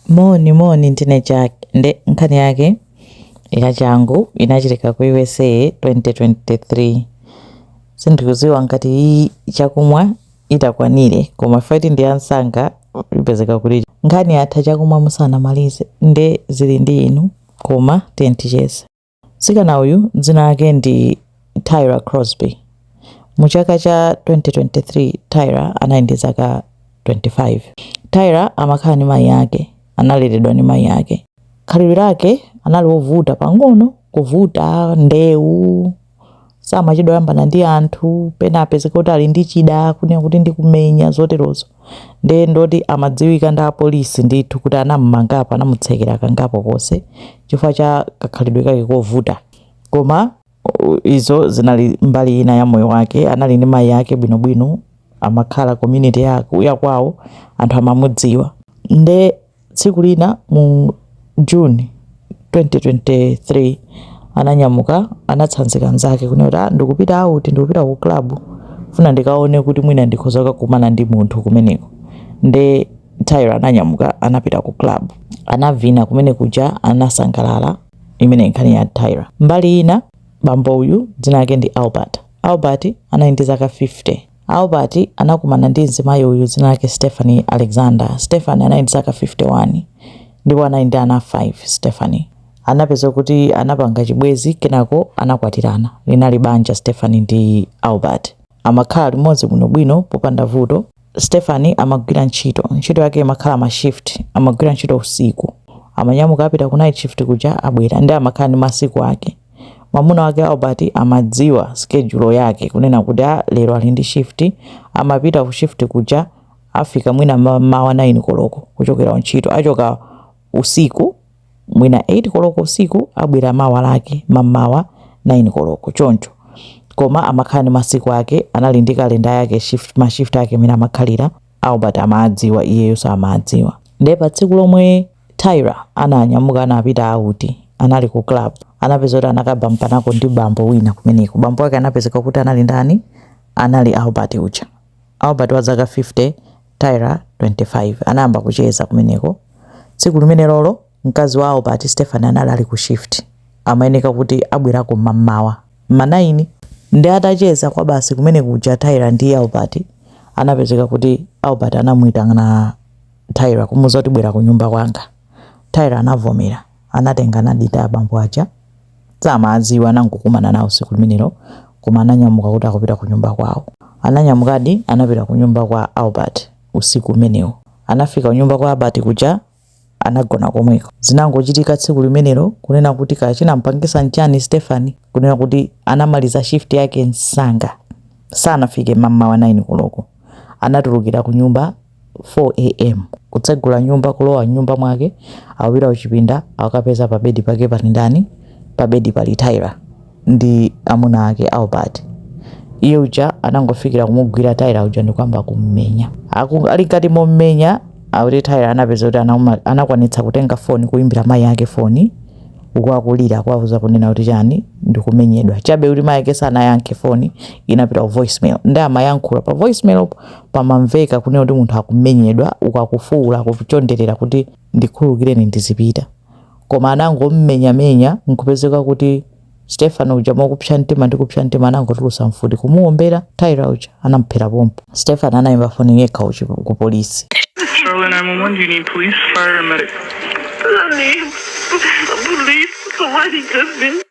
Moni moni ndine Jack nde nkhani yake yachangu inachitika ku usa 2023 sindikuziwa ngati iyi chakumwa itakwanire koma ifeyo ati ndi yamsanga ipezeka kuti nkhani yatha chakumwa musanamalize nde zili ndi inu koma tiyeni ticheze. Mtsikana uyu dzina lake ndi Tyra Crosby. Mu chaka cha 2023, Tyra anali ndi zaka 25. Tyra amakhala ndi mayi ake, analeledwa ndi mayi ake. Khalidwe lake anali wovuta pang'ono, kuvuta, ndewu, samachedwa kuyambana ndi anthu pena apezeka kuti ali ndi chida kunena kuti ndikumenya zoterozo nde ndi woti amadziwika ndi apolisi ndithu kuti anammangapo anamutsekera kangapo konse chifukwa cha kakhalidwe kake kovuta koma u- izo zinali mbali ina ya moyo wake anali ndi mayi ake bwinobwino amakhala community yaku- yakwawo anthu amamudziwa nde Tsiku lina mu June 2023 ananyamuka anatsanzika anzake kunena kuti ah, ndikupita out, ndikupita ku club funa ndikaone kuti mwina ndikhoza kukakumana ndi munthu kumeneko. Nde Tyra ananyamuka anapita ku club anavina kumene kuja anasangalala. Imeneyo ndi nkhani ya Tyra. Mbali ina bambo uyu dzina lake ndi Albert. Albert anali ndi zaka 50 Albert anakumana ndi mzimayi uyu dzina lake Stephanie Alexander. Stephanie anali ndi zaka 51 ndipo anali ndi ana 5. Stephanie anapeza kuti anapanga chibwenzi kenako anakwatirana. Linali banja Stephanie ndi Albert. Amakhala limodzi bwinobwino popanda vuto. Stephanie amagwira ntchito. Ntchito yake imakhala ma shift. Amagwira ntchito usiku. Amanyamuka apita ku night shift kuja abwera nde amakhala ndi masiku ake. Mwamuna wake Albert amadziwa schedule yake kunena kuti a lero ali ndi shift amapita ku shift kuja afika mwina ma- mawa 9 koloko kuchokera ku ntchito achoka usiku mwina 8 koloko usiku abwera mawa lake mamawa 9 koloko choncho koma amakhala ndi masiku ake anali ndi kalenda yake shift, ma shift ake amene amakhalira albert amadziwa iyeyo samadziwa ndiye pa tsiku lomwe Tyra ananyamuka anapita out, anali ku club. Anapeza kuti anakabampanako ndi bambo wina kumeneko. Bambo wake anapezeka kuti anali ndani? Anali Albert uja. Albert wa zaka 50, Tyra 25. Anayamba kucheza kumeneko. Tsiku limenelolo mkazi wa Albert, Stephanie anali ali ku shift. Amayeneka kuti abwerako mmamawa. Ma 9 ndi atacheza kwa basi kumene kuja Tyra ndi Albert anapezeka kuti Albert anamuitana Tyler kumuuza kuti bwera kunyumba kwanga. Tyler anavomera. Anatenga nambala ya abambo aja. Samaadziwa anangokumana nawo tsiku limenelo koma ananyamuka kuti akupita kunyumba kwawo. Ananyamukadi anapita kunyumba kwa Albert usiku umenewo. Anafika kunyumba kwa Albert kuja anagona komweko. Zinangochitika tsiku limenelo kunena kuti kaya chinamupangitsa n'chani Stephanie kunena kuti anamaliza shift yake msanga. Sanafike mam'mawa 9 koloko. Anatulukira kunyumba 4AM Kutsegula nyumba kulowa mnyumba mwake akupita kuchipinda akukapeza pa bedi pake pali ndani pa bedi pali Tyler ndi amuna ake Albert iye uja anangofikira kumugwira Tyler uja ndikuyamba kummenya Aku, ali mkati mommenya akuti Tyler anapeza kuti anakwanitsa kutenga foni kuimbira mayi ake foni uku akulira kuwauza kunena kuti chani ndikumenyedwa chabe kuti mayi ake sanayankhe foni inapita ku voicemail ndiye amayankhula pa voicemail pamamveka kunena kuti munthu akumenyedwa uku akufuwula akuchonderera kuti ndikhululukireni ndizipita koma anangommenyamenya nkupezeka kuti Stephanie uja mokupsa mtima ndi kupsa mtima anangotulusa mfuti kumuwombera Tyler uja anamuphera pompo Stephanie anayimba foni yekha ku polisi 911, you need police, fire, and medic. Honey, the police, somebody just been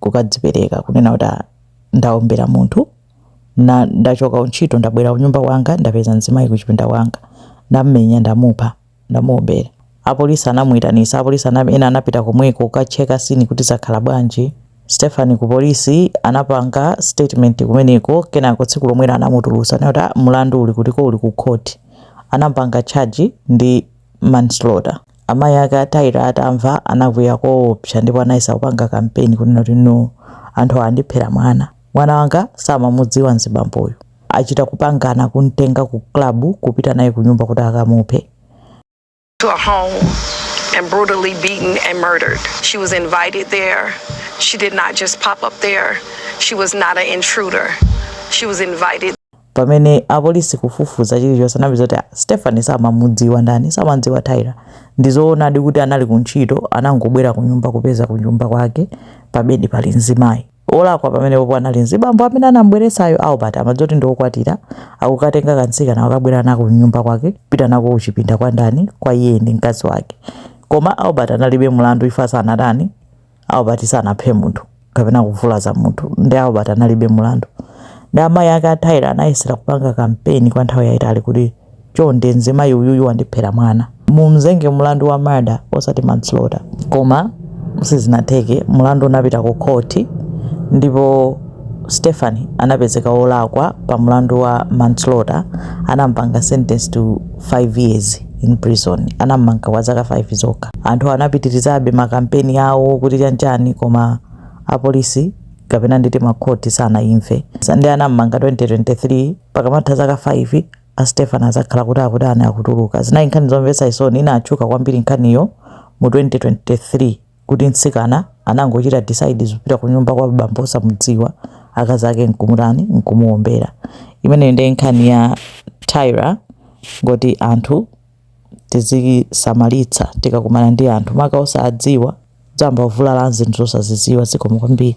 kukadzipereka kunena kuti ah, ndaombera munthu ndachoka kuntchito ndabwera kunyumba kwanga ndapeza mzimayi kuchipinda kwanga ndammenya ndamupha ndamuombera apolisi anaitanitsa apolisi ena anapita komweko kukacheka scene kuti zakhala bwanji Stephanie ku polisi anapanga statement kumeneko kenako tsiku lomwelo anamutulusa ndikuti ah, mulandu uli kutiko uli ku court anampanga charge ndi manslaughter Amayi ake a Tyler atamva, anakwiya koopsa ndipo anayesa kupanga kampeni kunena kuti, No. Anthu awa andiphera mwana. Mwana wanga samamudziwa mzibamboyu. Achita kupangana kum'tenga ku club kupita naye kunyumba kuti akamuphe. to a home and brutally beaten and murdered. She was invited there. She did not just pop up there. She was not an intruder. She was invited. pamene apolisi kufufuza chilichonse anapeza kuti ah, Stephanie samamudziwa ndani samamudziwa Tyler ndizoonadi kuti anali kuntchito anangobwera kunyumba kupeza kunyumba kwake pabedi pali mzimayi olakwa pamenepopo anali mzibambo amene anambweretsayo Albert akudziwa zoti ndiokwatira akukatenga kantsikana kukabwera nako kunyumba kwake kupita nako kuchipinda kwa ndani kwa iye ndi mkazi wake koma Albert analibe mlandu chifukwa sanatani Albert sanaphe munthu kapena kuvulaza munthu ndiye Albert analibe mulandu ndiye amayi ake a Tyler anayesera kupanga kampeni kwa nthawi yayitali kuti chonde mzimayi uyuyu wandiphera mwana mumzenge mulandu wa murder osati manslaughter koma sizinatheke mulandu unapita ku khoti ndipo Stephanie anapezeka wolakwa pa mulandu wa manslaughter anampanga sentence to 5 years in prison anam'manga kwa zaka 5 zokha anthu anapitirizabe ma kampeni awo kuti chanchani koma apolisi kapena nditi makhoti sanaimve and anam'manga 2023 pakamatha zaka 5 a Stephen azakhala kuti akutani akutuluka zinali nkhani zomvetsa chisoni inatchuka kwambiri nkhaniyo mu 2023 kuti mtsikana anangochita decide zopita kunyumba kwa abambo osamudziwa akazi ake nkumutani nkumuombera imeneyo ndiye nkhani ya tyra ingoti anthu tizisamalitsa tikakumana ndi anthu maka osadziwa tizayamba kuvulala zinthu zosazidziwa zikomo kwambiri